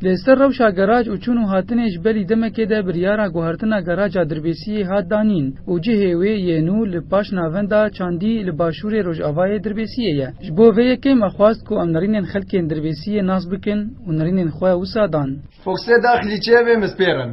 Li ser rewşa geraj û çûn û hatinê ji belî demekê de biryara guhertina geraja Dirbêsiyê hat danîn û cihê wê yê nû li paş navenda Çandî li başûrê rojavayê Dirbêsiyê ye. Ji bo vê yekê me xwest ku em nirînên xelkên Dirbêsiyê nas bikin û nirînên xwe wisa dan. Foxê daxilî çêvê mispêr in.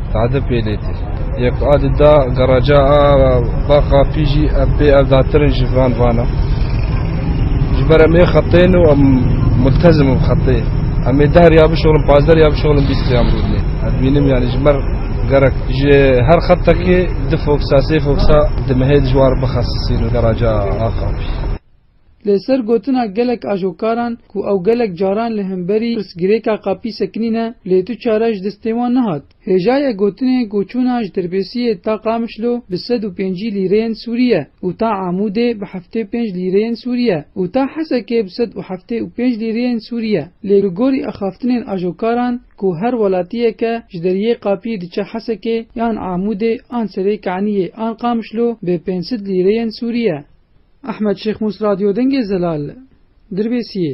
Tade pêlêtî yê ku adî da garaja a baqa pî jî ev bê evdatir in ji van vana. Ji ber em ê xetên û em multezim im xetê. Em ê deh riya bişorin, pazdeh riya bişorin, bîst riya em rûdinê. Ez bînim yanî ji ber gerek ji her xetekê du foksa, sê foksa di mehê dijwar bixesisîn garaja Aqapî. Li ser gotina gelek ajokaran ku ew gelek caran li hemberî pirsgirêka Qapî sekinîne lê tu çare ji destê wan nehat. Hêjayê gotinê ku çûna ji Terbesiyê ta Qamişlo bi sed û pêncî lîreyên Sûrî ye û ta Amûdê bi heftê û pênc lîreyên Sûrî ye û ta Hesekê bi sed û heftê û pênc lîreyên Sûrî ye lê li gorî axaftinên ajokaran ku her welatiyeke ji deriyê Qapî diçe Hesekê yan Amûdê an Serêkaniyê an Qamişlo bi pênc sed lîreyên Sûrî ye. Ehmed Şêxmusradîodengê Zelal, Dirbêsiyê,